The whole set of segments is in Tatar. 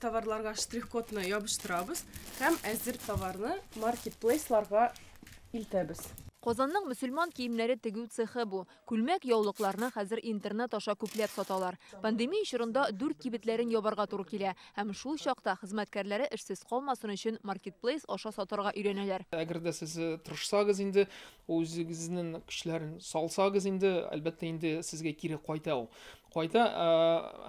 Товарларга штрих-кодны ябыштырабыз һәм әзер товарны маркетплейсларга илтәбез. Казанның мөселман киемнәре тегү цехы бу. Күлмәк, яулыкларны хәзер интернет аша күпләп саталар. Пандемия чорында дүрт кибетләрен ябарга туры килә. Һәм шул чакта хезмәткәрләре эшсез калмасын өчен маркетплейс аша сатарга өйрәнәләр. Әгәр дә сез тырышсагыз инде, үзегезнең көчләрен салсагыз инде, әлбәттә инде сезгә кире кайта ул. Кайта, ә,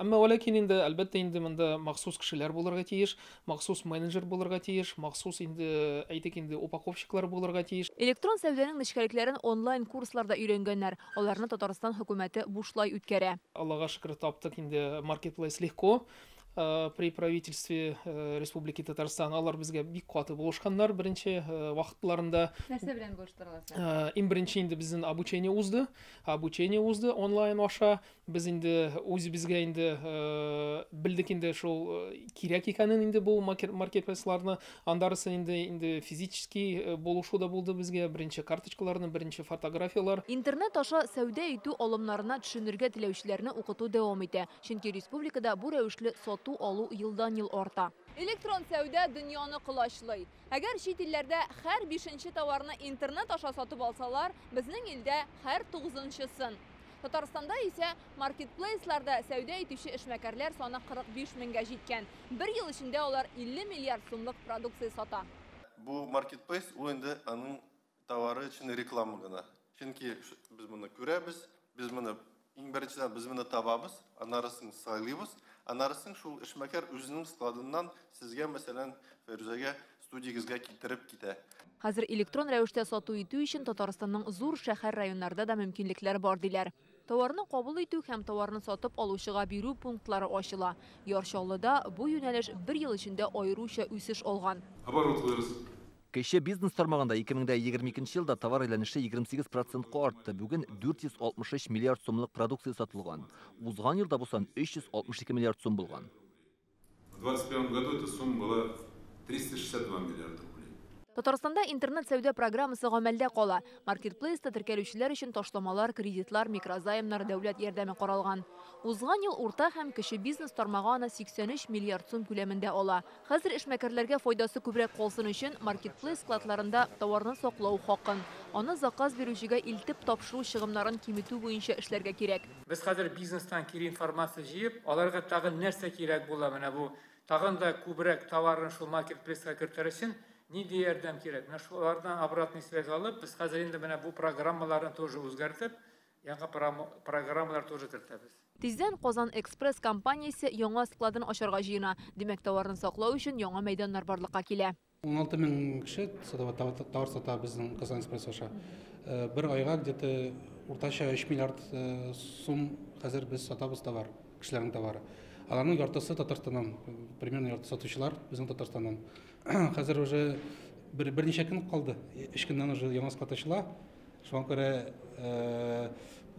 әмма вә ләкин инде, әлбәттә инде монда махсус кешеләр булырга тиеш, махсус менеджер булырга тиеш, махсус инде, әйтик инде, упаковщиклар булырга тиеш. Электрон сәүдәнең нечкәлекләрен онлайн курсларда өйрәнгәннәр, аларны Татарстан хөкүмәте бушлай үткәрә. Аллага шөкер, таптык инде маркетплейс легко, ә, при правительстве, ә, Республики Татарстан. Алар безгә бик каты булышканнар беренче, ә, вакытларында. Нәрсә белән булыштыралар сезне? Ә, иң беренче инде безнен обучение узды, Обучение узды онлайн аша. Без инде үзебезгә инде белдек инде шул кирәк икәнен инде бу маркетплейсларны. Андарысы инде инде физически булышу да булды безгә. Беренче карточкаларны, беренче фотографияләр. Интернет аша сәүдә итү алымнарына төшенергә теләүчеләрне укыту дәвам итә. Чөнки республикада бу рәвешле сату-алу елдан-ел арта. Электрон сәүдә дөньяны колачлый. Әгәр чит илләрдә һәр бишенче товарны интернет аша сатып алсалар, безнең илдә һәр тугызынчысын. Татарстанда исә маркетплейсларда сәүдә итүче эшмәкәрләр саны 45 меңгә җиткән. Бер ел эчендә алар 50 миллиард сумлык продукция сата. Бу маркетплейс, ул инде аның Товары өчен реклама гына. Чөнки без моны күрәбез, без моны иң беренчедән без моны табабыз, аннарысын сайлыйбыз, аннарысын шул эшмәкәр үзенең складыннан сезгә, мәсәлән, Фәрүзәгә студиягезгә китереп китә. Хәзер электрон рәвештә сату итү өчен Татарстанның зур шәһәр-районнарда да мөмкинлекләр бар, диләр. Товарны кабул итү һәм товарны сатып алучыга бирү пунктлары ачыла. Яр Чаллыда бу юнәлеш бер ел эчендә аеруча үсеш алган. Оборотлыйбыз. Кече бизнес тармагында 2022 елда товар әйләнеше 28 процентка артты, бүген 463 миллиард сумлык продукция сатылган. Узган елда бу сан 362 миллиард сум булган. Татарстанда интернет-сәүдә программасы гамәлдә кала. Маркетплейста теркәлүчеләр өчен ташламалар, кредитлар, микрозаймнар, дәүләт ярдәме каралган. Узган ел урта һәм кече бизнес тармагы аны 83 миллиард сум күләмендә ала. Хәзер эшмәкәрләргә файдасы күбрәк калсын өчен, маркетплейс складларында товарны саклау хакын, аны заказ бирүчегә илтеп тапшыру чыгымнарын киметү буенча эшләргә кирәк. Без хәзер бизнестан кире информация җыеп, аларга тагын нәрсә кирәк була, менә бу тагын да күбрәк товарын шул маркетплейска кертер өчен нинди ярдәм кирәк? Менә шулардан обратный связь алып, без хәзер инде менә бу программаларны тоже үзгәртеп, яңа программалар тоже кертәбез. Тиздән Казан Экспресс компаниясе яңа складын ачарга җыена. Димәк, товарны саклау өчен яңа мәйданнар барлыкка килә. 16 мең кеше садовод товар сата безнең Казанец пресс-аша. Бер айга где-то уртача 3 миллиард сум хәзер без сатабыз товар, кешеләрнең товары. Аларның яртысы Татарстаннан, примерно ярты сатучылар безнең Татарстаннан. Хәзер уже берничә көн калды, 3 көннән уже яңа склад ачыла. Шуңа күрә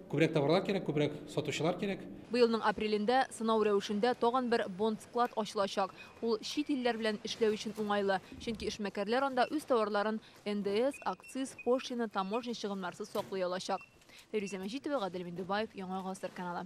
күбрәк товарлар кирәк, күбрәк сатучылар кирәк. Быелның апрелендә сынау рәвешендә тагын бер бонд-склад ачылачак. Ул чит илләр белән эшләү өчен уңайлы, чөнки эшмәкәрләр анда үз товарларын НДС, акциз, пошлина, таможня чыгымнарсыз саклый алачак. Фәйрүзә Мәҗитова, Гадел Миндубаев, Яңа гасыр каналы.